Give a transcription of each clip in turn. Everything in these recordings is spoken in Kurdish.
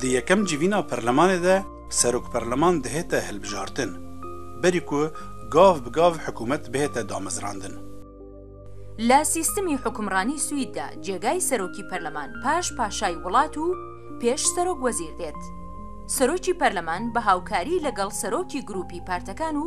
Di yekem civîna perlemanê de serokperleman dihête hilbijartin, berî ku gav bi gav hikûmet bihête damezrandin. Li sîstemî hukimranî Swîd de cêgayî serokî perleman paş paşayî wilat û pêş serok wezîr dêt. Serokî perleman bi hawkarî li gel serokî grûpî partekan û,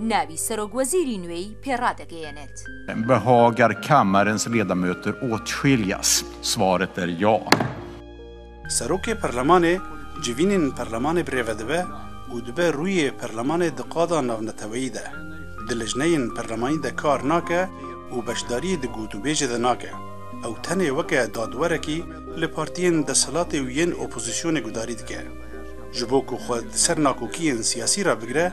Navî serokwezîrî nûêyî pê radigeyênêt. Bi Hager Kammerens ledamöter åtskiljas, svaret är ja. Serokê Perlemanê civînên Perlemanê bi rêve dibe û dibe rûyê Perlemanê di qada navneteweyî de, di lijneyên Perlemanî de kar nake û beşdarî di gotûbêjê de nake. Ew tenê weke dadwerekî li partiyên desthilatê û yên opozîsyonê gudarî dike. Ji bo ku xwe di ser nakokiyên siyasî re bigire,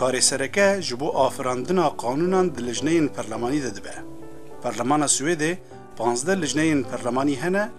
Karê sereke ji bo afirandina qanûnan di lijneyên perlemanî de dibe. Perlemana Swêdê pazdeh lijneyên perlemanî hene,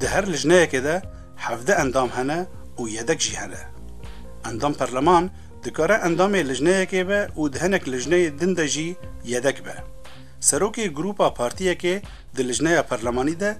Di her lijneyekê de hevdeh endam hene û yedek jî hene. Endam perleman dikare endamê lijneyekê be û di hinek lijneyê din de jî yedek be. Serokê grûpa partiyekê di lijneya perlemanî de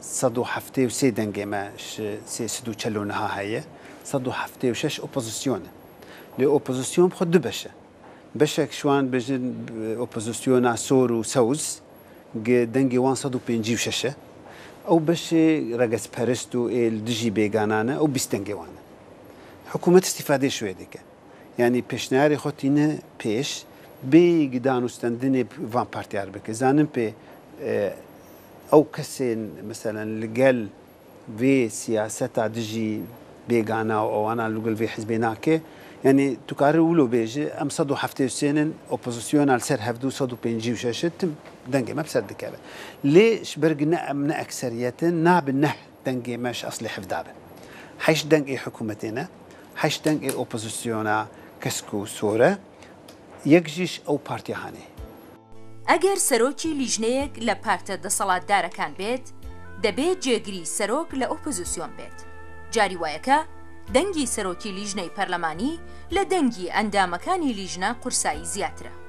sed û heftê û sê dengê me ji sê sed û çel û niha heye, sed û heftê û şeş opozîsyon e. Lê opozîsyon bi xwe du beş e. Beşek ji wan dibêjin opozîsyona sor û sewz gi dengê wan sed û pêncî û şeş e. Ew beşê regezperist û ê li dijî bêganan e ew bîst dengê wan e. Hikûmet îstîfadeyê şûyê dike. Yanî pêşniyarê xwe tîne pêş, bêyî danûstendinê van partiyar bike. Zanin pê ew kesên meselen li gel vê siyaseta dijî bêgana û ewana li gel vê hizbê nake. Yanî tu karî wilo bêjî em sed û heftê û sênin opozisyona li ser hevdû sed û pêncî û şeş e tim dengê me bi ser dikeve. Lê ji ber ku ne em ne ekseriyet in nabin neh. Dengê me ji eslê hevda be. Heşt deng ê hikûmetê ne, heşt deng ê opozîsyona kesk û sor e, yek jî ji ew partiya hanê. Eger serokî lîjneyek le parte deselatdarekan bêt, debê cêgirî serok le opozîsyon bêt. Carî wayeke dengî serokî lîjney perlemanî le dengî endamekanî lîjne qursayî zîyatir e.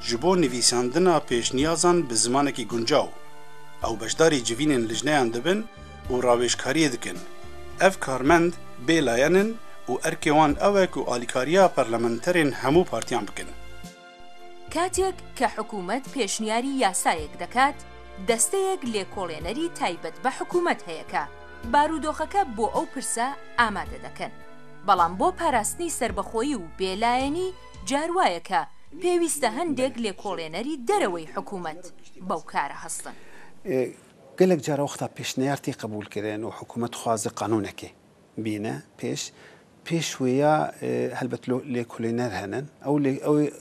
Ji bo nivîsandina pêşniyazan bi zimanekî guncaw, ew beşdarî civînên lijneyan dibin û rawêjkariyê dikin. Ev karmend bê layan in û erkê wan ew e ku alîkariya parlamenterên hemû partiyan bikin. Katêk ke hikûmet pêşniyarî yasayek dekat, desteyek lêkolênerî taybet be hikûmet heye ke barûdoxeke bo ew pirse amade dekin. Belam bo parastinî serbexoyî û bêlayenî, Car waye ke pêwîste hindêk lêkolênerî dereweyî hikûmet bew kare hestin. Gelek car wexta pêşneyar tê qebûlkirin û hikûmet dixwaze qanûnekê bîne pêş. Pêş wê ya helbet lêkolêner henin. Ew lê ew ê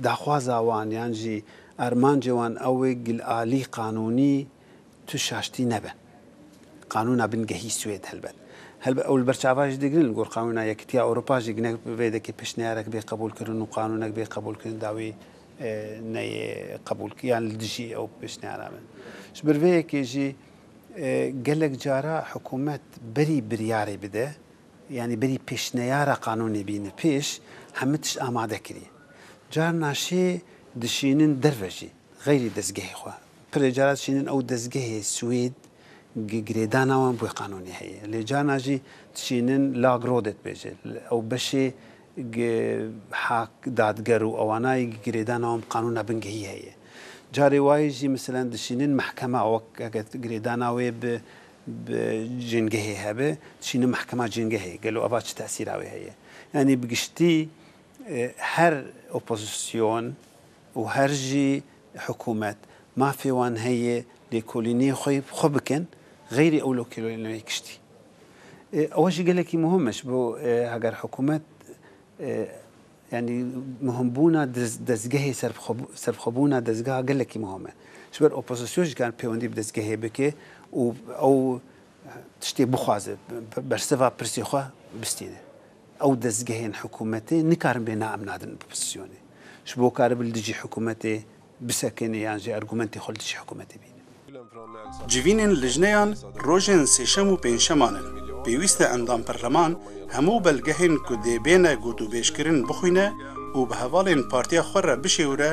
daxwaza wan yan jî armancê wan ew ê gil alî qanûnî, Tu şaştî nebe. Qanûna bingehî Swêd helbet. Helbet ew li ber çava jî digrin li gor Qanûna Yekîtiya Ewropa jî ginek bi vê dekê pêşniyarek bê qebûlkirin û qanûnek bê qebûlkirin dawî neyê qebûlkirin yan li dijî ew pêşniyara bin. Ji ber vê yekê jî gelek cara hikûmet berî biryarê bide yanî berî pêşniyara qanûnê bîne pêş hemû tişt amade kirî. Carna şê dişînin derve jî xeyrî dezgehê xwe. Pirê cara çînin ew dezgehê Swêd gi girêdana wan bûye qanûnî heye. Lê carna jî çînin Lagrådet dibêje. Ew beşê gi hak, dadger û ewanayî gi girêdana wan bi qanûna bingehî heye. Carê wayî jî miselan dişînin mehkema wek heke girêdana wê bi bi cîngehê hebe, dişînin mehkema cîngehê. Gelo eva çi tesîra wê heye? Yanî bi giştî her opozîsyon û her jî Hikûmet, mafê wan heye lêkolînê xwe bi xwe bikin, xeyrê ew lokelolîneyê kiştî. Ew jî gelekî muhim e ji bo heger hikûmet yanî muhimbûna dezgehê serbixwebûna dezgeha gelekî muhim e. Ji ber opozîsyon jî kar pêwendî bi dezgehê bike û ew tiştê bixwaze, bersiva pirsê xwe bistîne. Ew dezgehên hikûmetê nikarin bê na em nadin opozîsyonê. Ji bo karibin li dijî hikûmetê bisekinê yan jî argumentê xwe li dijî hikûmetê bînin. Civînên lijneyan rojên sêşem û pêncşeman in. Pêwîst e endam perleman hemû belgehên ku dê bêne gotûbêjkirin bixwîne û bi hevalên partiya xwe re bişêwire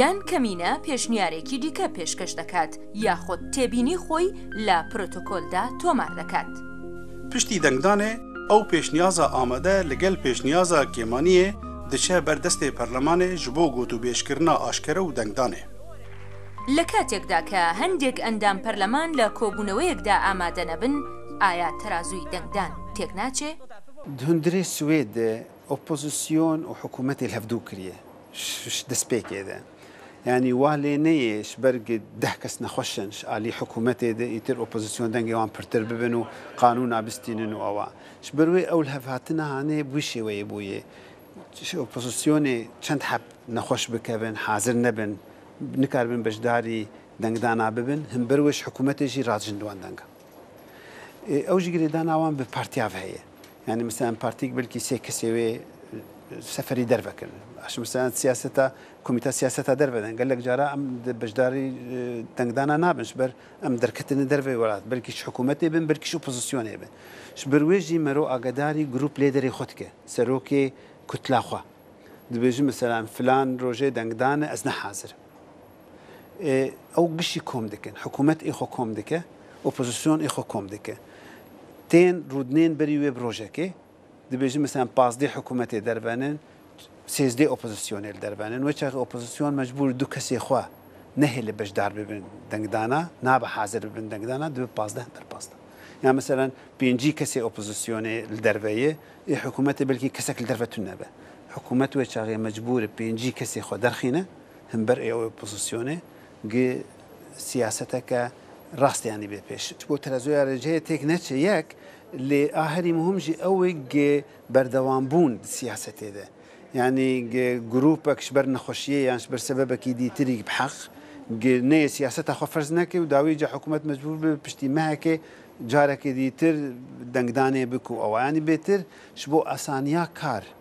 Yan kemîne pêşniyarêkî dîke pêşkeş diket yaxud têbînî xwe li protokol de tomar diket. Piştî dengdanê ew pêşniyaza amade li gel pêşniyaza Kêmaniyê diçe ber destê perlemanê ji bo gotûbêjkirina aşkere û dengdanê. Li katek de ke hendêk endam perleman li kobûneweyek de amade nebin, aya terazûyî dengdan têk naçê? Di hundirê Swêd de Opozîsyon û hikûmetê li hev dû kiriye ji destpêkê de. Yanî wa lê neyê ji ber ku deh kes nexweş in ji aliyê hikûmetê de îtir opozîsyon dengê wan pirtir bibin û qanûna bistînin û ewa. Ji ber wê ew li hev hatine hanê bi wî şêweyê bûye. Ji opozîsyonê çend heb nexweş bikevin, hazir nebin, nikaribin beşdarî dengdana bibin, hin ber wê ji hikûmetê jî radihin li wan dengan. Ew jî girêdana wan bi partiya ve heye. Yanî misal em partiyek belkî sê kesê wê seferî derve kirin. Aşm misal siyaseta komîta siyaseta derve din. Gelek cara em di beşdarî dengdana nabin ji ber em derketine derveyê welat. Belkî ji hikûmetê bin, belkî ji opozisyonê bin. Ji ber wê jî mero agedarî grûp lêderê xwe dike, serokê kutla xwe. Dibêjin misal em filan rojê dengdane ez ne hazir im. Ew giştî kom dikin. Hikûmet ê xwe kom dike, opozîsyon ê xwe kom dike. Tên rûdinên berî wê bi rojekê dibêjin meselan pazdeh hikûmetê dervenin, sêzdeh opozîsyonê li dervenin. Wê çaxê opozîsyon mecbûr e du kesê xwe nehê li beşdar bibin dengdana, nabe hazir bibin dengdana, dibe pazdeh ber pazdeh. Yan meselan pêncî kesê opozîsyonê li derve ye, ê hikûmetê belkî kesek li derve tune be. Hikûmet wê çaxê mecbûr e pêncî kesê xwe derxîne, Himber ê opozisyonê gi siyaseteke rasteyanî bê pêş. Çiko terezoya rêceyê têk neçe yek, lê a herî muhim jî ew ê gi berdewambûn di siyasetê de. Yanî gi grûpek ji ber nexweşiyê yan ji ber sebebekî dîtirî bi heq gi neyê siyaseta xwe ferz neke û dawî ca hikûmet mecbûr bibe piştî mehekê carekê dîtir dengdanê bike û ew. Yanî bêtir ji bo asaniya kar.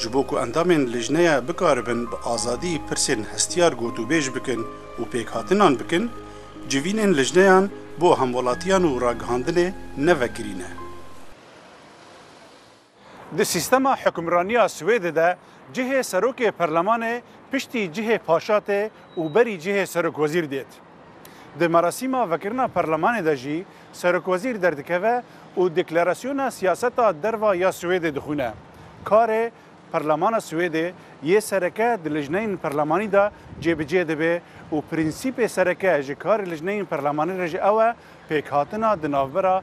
Ji bo ku endamên lijneya bikaribin bi azadî pirsên hestiyar gotûbêj bikin û pêkhatinan bikin, civînên lijneyan bo hemwelatiyan û ragihandinê ne vekirî ne. Di sîstema hukmraniya Swêdê de cihê serokê perlemanê piştî cihê paşa tê û berî cihê serokwezîr dêt. Di merasîma vekirina perlemanê de jî serokwezîr derdikeve û deklarasyona siyaseta derva ya Swêdê dixwîne. Karê Perlemana Swêdê yê sereke di lijneyên perlemanî de cêbicê dibe û prensîpê sereke ji karê lijneyên perlemanî re jî ew e pêkhatina di navbera